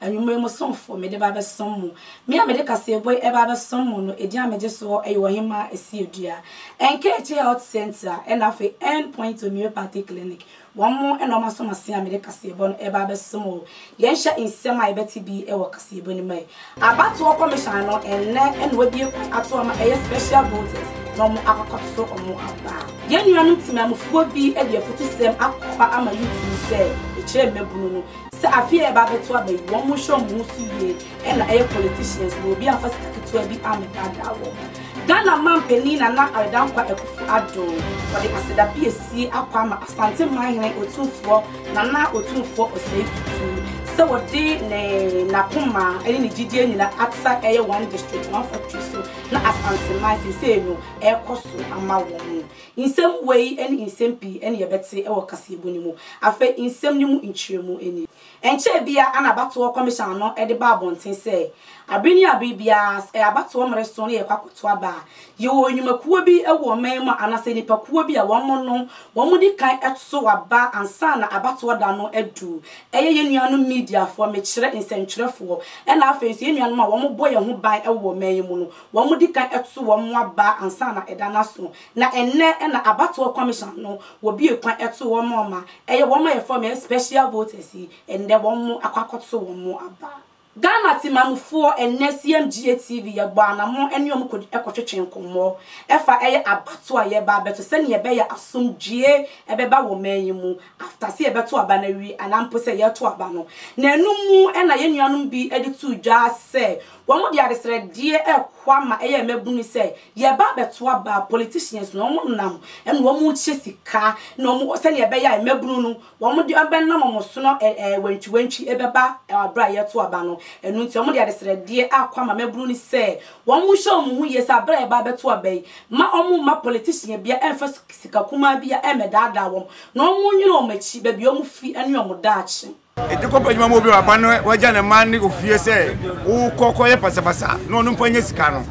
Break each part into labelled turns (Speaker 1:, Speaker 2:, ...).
Speaker 1: Anwummere mo somfo mede ba abɛsom mo. Me a mede kaseɛbɔ yi ba abɛsom mo no, edin a megye so hɔ yɛ Ɔhemmaa Asiedua. Nkaeɛkye Health Centre ɛna afei End Point Homeopathic Clinic. Wɔn mo na wɔn aso m'ase a mede kaseɛbɔ no reba abɛsom o. Yɛnhwɛ nsɛm a yɛbɛte bi wɔ kaseɛbɔ no mu ɛ. Abatoɔ Commission no ɛnnɛ na wɔabue kwan ato wɔn a ɛyɛ Special Voters na wɔn akɔkɔto wɔn aba. Yɛn nuanom temanmufoɔ bi de afutusɛm akɔfa ama YouTube sɛ ɛkyerɛ mmabunu no. Sɛ afe yi a ɛreba abɛto aba yi wɔn nhwɛ wɔn ho so yie ɛna ɛyɛ politicians no obi amfa sika ketewa bi ammɛdaadaa wɔn. Ghana man panin Nana Aredankwa Akuffo Addo wɔde aseda piesie akɔ ama Asante man hene Otumfoɔ Nana Otumfoɔ Osei Tutu sɛ wɔde ne n'akoma ɛne ne gyidie nyina ata ɛyɛ one district one factory so na Asante man seisei no ɛrekɔ so ama wɔn Nsɛm wei ne nsɛm pii na yɛbɛte wɔ kaseɛbɔ no mu. Afei nsɛm no mu nkyerɛmu nie. Ɛnkyɛɛ biara na abatoɔ kɔmehyan no de baa abɔnten sɛ, Abere ne abere biara sɛ ɛyɛ abatoɔ mmereso na yɛrekɔ akɔto aba a, yɛwɔ nnwumakuo bi wɔ ɔman yi mu a anaasɛ nnipakuo bi a wɔn no wɔn di kan to aba ansa na abatoɔ da no adu. Ɛyɛ yɛn nuanom mediafoɔ, mekyerɛ nsɛntwerɛfoɔ, ɛna afei nso yɛn nuanom a wɔbɔ yɛn ho ban wɔ ɔman yi mu no. Wɔdi kan to wɔn mmoaba ansa na ɛda no aso, na ɛnnɛ na abatoɔ kɔmehyan no wɔbue kwan to wɔn ma wɔma ɛyɛ wɔn a yɛfrɛ wɔn special voters yi, ɛnnɛ wɔn akɔ akɔto wɔn mmoaba. Ghana Temanmufoɔ ɛnnɛ CMGA TV yɛbɔɔ anammɔn ɛne wɔn kɔdi ɛkɔtwetwe nkɔmmɔ ɛfa ɛyɛ abato a yɛreba abɛto sɛdeɛ ɛbɛyɛ asomdwoeɛ ɛbɛba wɔ man yi mu after sɛ yɛbɛto aba no awie anaa mpo sɛ yɛreto aba no na ɛno mu na yɛn nuanom bi de too dwa sɛ Wɔde adesrɛdeɛ rekɔ ama ɛyɛ mmabunu no sɛ yɛba abɛto aba politicians no wɔn nam ɛna wɔn rekyɛ sika na wɔn sɛdeɛ ɛbɛyɛ a mmabunu no wɔn de ɛbɛnam wɔn so no ɛɛ wantwi wantwi ɛbɛba abere a yɛto aba no ɛno nti wɔde adesrɛdeɛ akɔ ama mmabunu no sɛ wɔn nhyɛ wɔn ho yie sɛ abere a yɛba abɛto aba yi ma wɔn mma politician bia ɛmfa sika kumaa bia ɛmɛdaadaa wɔn na wɔn nwene wɔn akyi baabi wɔn firi ɛne wɔn daakye. Ɛde kɔpa adwuma ma obi
Speaker 2: a waba no wagya ne mma ne ofie sɛ wokɔ kɔyɛ pasapasa na ɔno mpo anya sika no.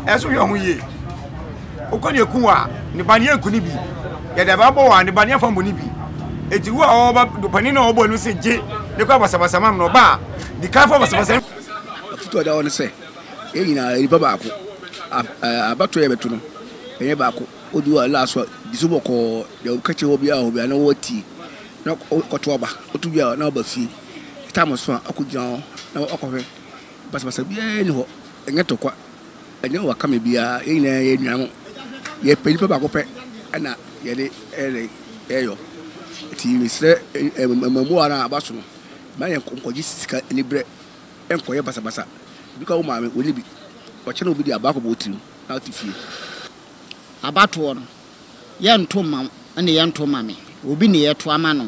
Speaker 2: Ɛso hwɛ ho yie. Wokɔ ne ɛku a ne ba no yɛnku ne bi. Yɛde abaa bɔ wɔ a ne ba no yɛmfa mmɔ ne bi. Enti wo a ɔba panin no a ɔbɔ no sɛ gye ne kɔ abasabasa ma me no ɔba a di kan fa basabasa no. Afotu a ɛda hɔ
Speaker 3: ne sɛ yɛn nyinaa yɛ nipa baako. Abatoɔ a yɛbɛto no yɛnyɛ baako. Wodu a last one di so bɔkɔɔ. Deɛ woka kyerɛ obiara wɔ hɔ biara na woatie. na ɔkɔto aba. Ɔto wie a, na ɔba fie. Ɛtae so a, ɔkɔgyina hɔ na wakɔhwɛ. Basabasa biara nni hɔ. Ɛnyɛ tokwa. Ɛnyɛ wakame biara. Yɛn nyinaa yɛ anuanom. Yɛpɛ nipa baako pɛ na yɛde reyɔ. Nti mesrɛ mmabua no a aba so no, mma yɛnkɔgye sika aniberɛ nkɔyɛ basabasa. Bi kora wo maame, ɔnni bi. Ɔkyɛ na obi de aba akɔbɔ wo tirim na wote fie. Abatoɔ no, yɛ nto mma wo ne yɛ nto mma me, obi ne yɛ to ama no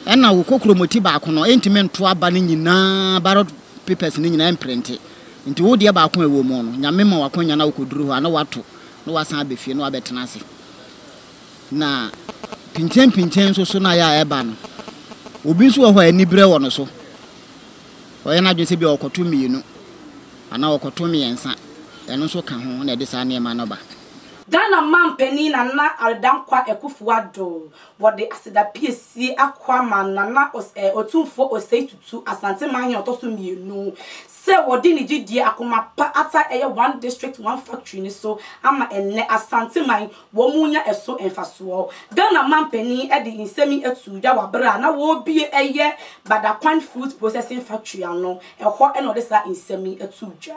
Speaker 3: ɛna wo kokromoti baako no ɛntumi nto aba no nyinaa ballot papers no nyinaa ɛmprente nti wo deɛ baako a ɛwɔ mu no Nyame ma wo akwanya na wokɔduru hɔ a na woato na woasan abɛ fie na woabɛ tena ase na pinten pinten nso so na yɛ a ɛba no obi nso wɔ hɔ a anibrɛ wɔ no so ɔyɛ no adwene sɛ bia ɔkɔto mmienu anaa ɔkɔto mmiɛnsa ɛno nso ka ho na ɛde saa nneɛma no ba. Ghana
Speaker 1: manpanin Nana Dankwa Akufo-Addo, wɔde aseda piesie akɔ ama Nana Os eh Otumfoɔ Osei Tutu, Asante Manhene ɔtɔ so mmienu, sɛ wɔde ne gyedie akoma pa ata ɛyɛ One District, One Factory no so ama ɛnnɛ Asanteman wɔrenya ɛso mfasoɔ. Ghana manpanin de nsɛm yi atuu dwa wɔ berɛ a na wɔrebue ɛyɛ Badakwan Fruit Processing Factory ano, ɛhɔ na ɔde saa nsɛm yi atuu dwa.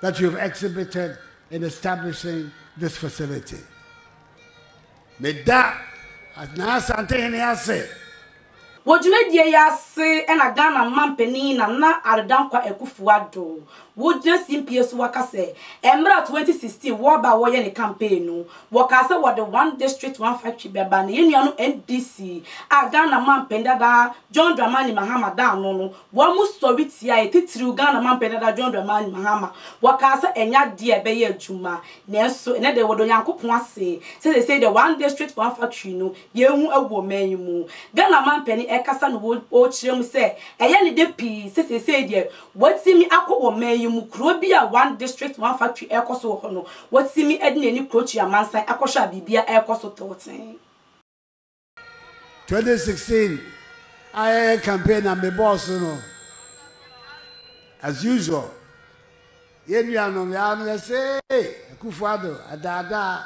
Speaker 4: that you have exhibited in establishing this facility. Meda Nana Asantehene ase. Wɔ
Speaker 1: dwumadie yi ase na Ghana Manpanin Nana Addo Dankwa Akufo-Addo wɔ gyina simpie so aka sɛ mmerɛ 2016 wɔreba a wɔreyɛ ne campaign no, wɔkaa sɛ wɔde one district one factory bɛba na yɛn nua no NDC a Ghana Manpanin dada John Dramani Mahama da ano no Wɔsɔre tiaa yɛn, titiriw Ghana mampanin dada John Dramani Mahama. Wɔkaa sɛ ɛnyɛ ade a ɛbɛyɛ adwuma. Nanso, ɛnnɛ de, wɔda Onyankopɔn ase sɛ seesei de, One District, One Factory no, yɛahu agu ɔman yi mu. Ghana mampanin rekasa na ɔrekyerɛ mu sɛ ɛyɛ ne dɛ pii sɛ seesei deɛ, watumi akɔ wɔ ɔman yi mu, kuro bi a One District, One Factory rekɔ so wɔ hɔ no, watumi de n'ani krokyia amansan akɔhwɛ a biribiara rekɔ so tɔɔtee.
Speaker 4: Twenty sixteen a yɛyɛ campaign na me bɔɔ so no as usual yɛn nuanom yɛ ano yɛ se Akufo Addo adaadaa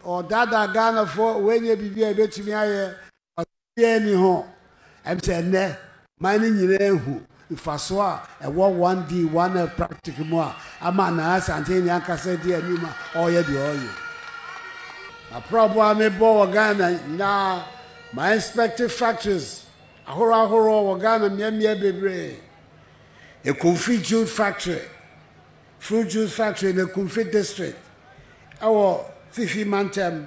Speaker 4: ɔdaadaa Ghanafoɔ wɔnyɛ biribi a ebetumi ayɛ ɔsɛdeɛ ni ho ɛm sɛ ɛnɛ man no nyinaa ahu mfaso a ɛwɔ One D, One F practic mu a ama Nana Asante ne ankasa adi anim a ɔreyɛ deɛ ɔreyɛ. M'aprɔbɔ a mebɔ wɔ Ghana nyinaa, ma inspect factories ahorow ahorow wɔ Ghana mmeammea bebree, Ekumfi Juice Factory, Fruit Juice Factory in Ekumfi District ɛwɔ Fifi Mantam,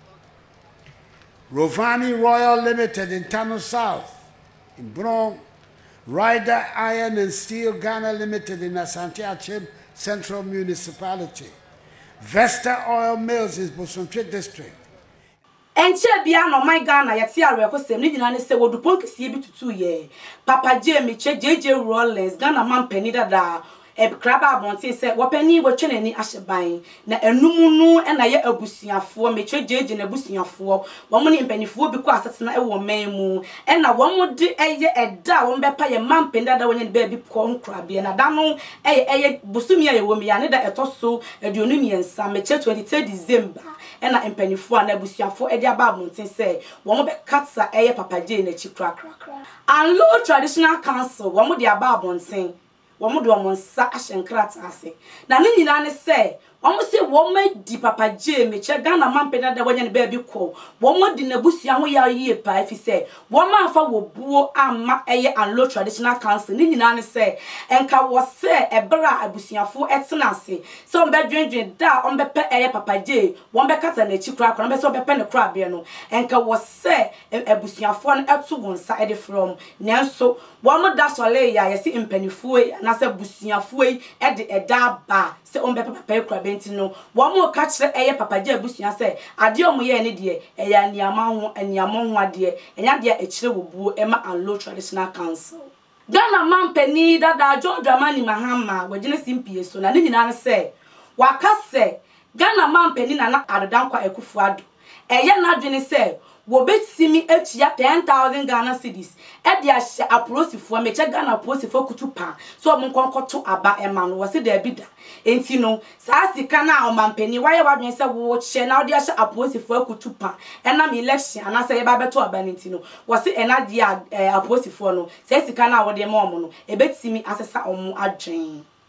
Speaker 4: Rovani Royal Limited Ntano South, Mbrong, Ryder Iron and Steel Ghana Limited in Asante Akyem Central Municipality, Vesta Oil Mills in Bosontwe District, Ɛnkyɛɛ
Speaker 1: biara na ɔman Ghana yɛtee awerɛhosɛm, ne nyinaa ne sɛ wɔde pon kɛseɛ bi tutuiɛ. Papa Jay Miche, JJ Rawlings, Ghana manpanin dada a Ɛkra ba abɔnten sɛ wɔpanin watwa n'ani ahyɛ ban, na ɛno mu no na yɛ abusuafoɔ, Mekyerɛ JJ n'abusuafoɔ, wɔn ne mpaninfoɔ bi kɔ asetena wɔ ɔman mu, ɛna wɔn de ɛyɛ ɛda a wɔn bɛpa yɛ mma mpanin dada a wɔanya ne baabi kɔ nkorabea, na da no yɛ ɛyɛ bosome a yɛwɔ mu yi ara ne da ɛtɔ so aduonu mmiɛnsa, Mekyerɛ 23 December, ɛna mpaninfoɔ anaa abusuafoɔ de aba abɔnten sɛ wɔn bɛkata ɛyɛ Papa Jay n'akyi korakora. Anlo Traditional Council wɔn de aba abɔnten, wɔde wɔn nsa ahyɛ nkrataa ase. Na ne nyinaa ne sɛ wɔse wɔadi Papa Jay Mekyɛ, Ghana Mampɛ Dada wanya ne baabi kɔ. Wɔadi n'abusua ho yaw yie paa efisɛ wɔamfa wɔ buo amma ɛyɛ Anlo Traditional Council. Ne nyinaa ne sɛ nka wɔ sɛ ɛberɛ a abusuafoɔ ɛtena ase sɛ wɔbɛdwendwen da a wɔbɛpɛ ɛyɛ Papa Jay, wɔbɛkata n'akyi koraa koraa na wɔbɛsɛ wɔbɛpɛ ne koraberɛ no, nka wɔ sɛ abusuafoɔ no to wɔn nsa de frɛ wɔn. Nanso. Wɔn da sɔree yi a yɛse mpaninfoɔ yi anaasɛ abusuafoɔ yi de ɛda aba a sɛ wɔn bɛpɛ papa akurabɛ nti no wɔn reka kyerɛ ɛyɛ papa gya abusua sɛ adeɛ a wɔn yɛɛ no deɛ ɛyɛ aniama ho aniamɔ ho adeɛ ɛnyɛ adeɛ a ɛkyerɛ obuo ɛma Anlo Traditional Council. Ghana manpanin yi dada John Dramani Mahama wagyina si mpie so na ne nyinaa ne sɛ waka sɛ Ghana manpanin Nana Addo Dankwa Akufo Addo Ɛyɛ n'adwene sɛ wɔbɛtumi atua ten thousand Ghana cedis de ahyɛ apolisifoɔ, mekyɛ Ghana apolisifoɔ akutu paa, sɛ wɔn nkɔ nkɔto aba mma no. Wɔse daabi da. Enti no, saa sika no a ɔmampanin, woayɛ w'adwene sɛ worekyɛ na wode ahyɛ apolisifoɔ akutu paa ɛnam election anaasɛ yɛreba abɛto aba no nti no, wɔse ɛno adeɛ a, ɛɛ, apolisifoɔ no, saa sika no a wode rema wɔn no, ɛbɛtumi asesa wɔn adwene.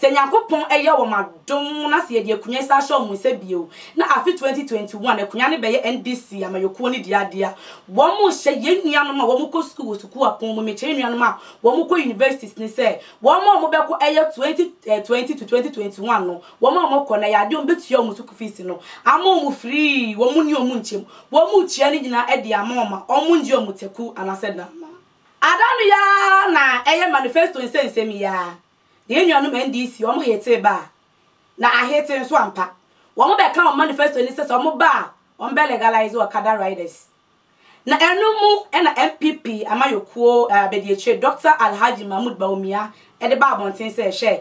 Speaker 1: Sɛ Nyankopɔn yɛ wɔn adom na sɛ yɛde akonya yi san hyɛ wɔn nsa bio na afe 2021 akonya no bɛyɛ NDC amanyɔkuo no dea deɛ a, wɔrehyɛ yɛn nuanom a wɔkɔ sukuu wɔ sukuu apɔn mu, mekyerɛ yɛn nuanom a wɔkɔ universities no sɛ wɔn a wɔbɛkɔ ɛyɛ 2020 to 2021 no, wɔn a wɔkɔ no ɛyɛ adeɛ a wɔbɛtua wɔn sukuu fees no ama wɔn free, wɔn nni wɔn nkyɛm, wɔretua ne nyinaa de ama wɔn a wɔnngye wɔn taku anaasɛ dam. Ada no yi ara na ɛyɛ manifesto nsɛnsɛm yi ara. Yɛn nuanom NDC, wɔn hetee ba a, na ahete nso ampa. Wɔn bɛka wɔn manifesto no sɛ sɛ wɔn ba a, wɔn bɛ legalize Okada riders. Na ɛno mu na NPP amayɔkuo abadiakyire Dɔkta Alhaji Mahmood Bawumia de baa abɔnten sɛ hwɛ,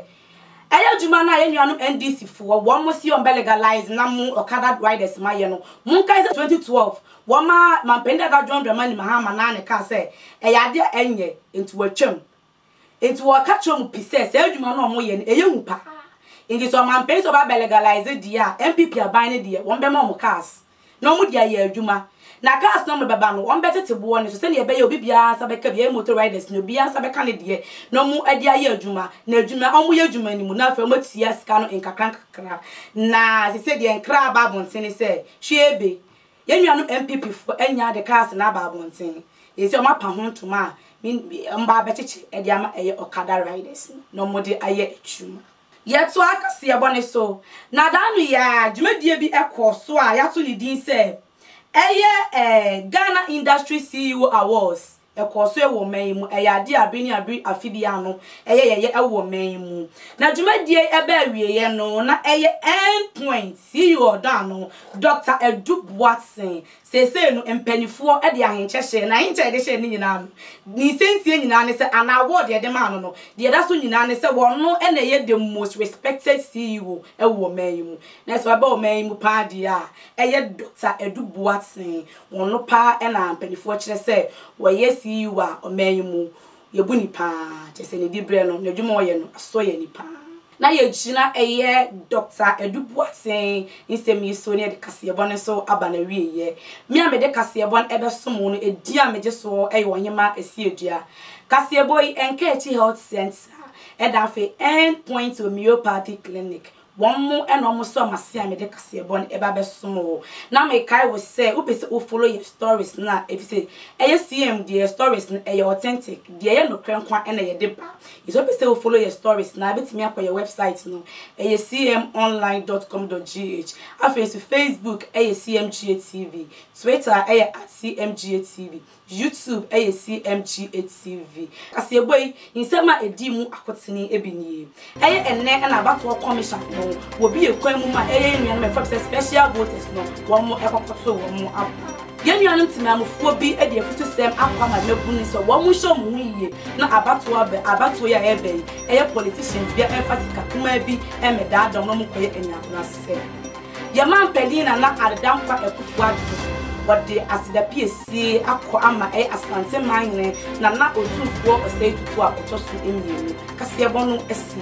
Speaker 1: ɛyɛ adwuma no a yɛn nuanom NDC foɔ, wɔn se wɔn bɛ legalize nam mu Okada riders mayɛ no. Monkae sɛ 2012, wɔmaa Manpanin dada John Dramani Mahama naa ne kaa sɛ ɛyɛ adeɛ a ɛnyɛ, nti wɔatwam. Enti wɔka kyerɛ wɔn pi sɛ saa adwuma no a wɔyɛ no ɛyɛ hu paa. Enti sɛ ɔmanpanin sɛ ɔbɛba bɛlegalize deɛ a NPP aban no deɛ wɔn bɛma wɔn cars na wɔn de ayɛ adwuma. Na cars no a wɔn bɛba no wɔn bɛtete boɔ no so sɛdeɛ ɛbɛyɛ obi biara nsa bɛka bi ɛyɛ motor riders no obiara nsa bɛka ne deɛ na wɔn ɛde ayɛ adwuma na adwuma wɔn yɛ adwuma no mu na afei wɔn atua sika no nkakra nkakra na sese deɛ nkra aba abɔntene sɛ hwee be Yɛn nuanom NPP foɔ anya de cars no aba abɔnten, yɛn sɛ wɔn apa ho ntoma a wɔn ba abɛkyekye de ama ɛyɛ Okada riders no na wɔn de ayɛ adwuma. Yɛtoa kaseɛbɔ no so, na da no yi ara dwumadie bi kɔɔ so a yɛato ne din sɛ ɛyɛ Ghana Industry CEO Awards Ɛkɔɔ so wɔ ɔman yi mu. Ɛyɛ adeɛ a bere ne abere afe biara no ɛyɛ yɛyɛ wɔ ɔman yi mu. Na dwumadie yi ɛbɛ awieɛ no na ɛyɛ end point CEO ɔdɔn ano Doctor Adu Boatsen. Seesei no mpaninfoɔ de ahenkyɛ hyɛɛ no, ahenkyɛ a yɛde hyɛɛ no no nyinaa no ne nsɛntie nyinaa ne sɛ anaa award a yɛde maa no no deɛ ɛda so nyinaa ne sɛ ɔno na ɛyɛ the most respected CEO wɔ ɔman yi mu. Na sɛ ɛba ɔman yi mu paa deɛ a ɛyɛ Doctor Adu Boatsen. Wɔn no paa na mpaninfoɔ kyerɛ sɛ wɔyɛ CEO wɔ ɔman yi mu. Yɛbu no paa. Kyerɛ sɛ ne dibrɛ no, n'adwuma a ɔyɛ no, asɔ yɛn ani paa. Na yɛgyina ɛyɛ Dɔkta Adu Boateng nsɛm yi so na yɛde kaseɛbɔ no nso aba n'awieɛ. Me a mede kaseɛbɔ no ɛbɛsom wo no, edin a megye soɔ yɛ Ɔhemaa Asiedua. Kaseɛbɔ yi, ɛnka akyi Health Centre, ɛda afei End Point Homeopathy Clinic, Wɔn mo ɛna ɔmo sɔ mase a mede kaseɛbɔ no ɛba bɛsom wo na me kae wo sɛ wopɛ sɛ wo follow yɛn stories no a efisɛ ɛyɛ CM deɛ stories no ɛyɛ authentic deɛ ɛyɛ nokorɛ nko ara na yɛde ba nti sɛ wopɛ sɛ wo follow yɛn stories no a bɛtumi akɔ yɛn website no ɛyɛ cmonline dot com dot gh afei nso Facebook ɛyɛ cmghtv Twitter ɛyɛ at cmghtv YouTube yɛ CMGHTV kaseɛbɔ yi nsɛm a ɛdii mu akotene bi nie. Ɛyɛ ɛnnɛ na abatoɔ commission no wɔ bi yɛ kwan mu ma ɛyɛ yɛn nuanom a ɛfam sɛ special voters no wɔn ɛkɔkɔto wɔn aboɔ. Yɛn nuanom temanmufoɔ bi de afutusɛm akɔ ama mmabunu sɛ wɔn nhyɛ wɔn ho yie na abatoɔ aba abatoɔ yi a ɛreba yi ɛyɛ politicians bia ɛmfa sika kumaa bi ɛmmɛdaadaa wɔn na wɔn kɔyɛ anyabrasɛm. Yɛn manpanin Nana Addo Dankwa Akufo-Addo, wɔde aseda piesie akɔ ama ɛyɛ Asante Manhene Nana Otumfuo Osei Tutu a ɔtɔ so mmienu kaseɛbɔ no asi.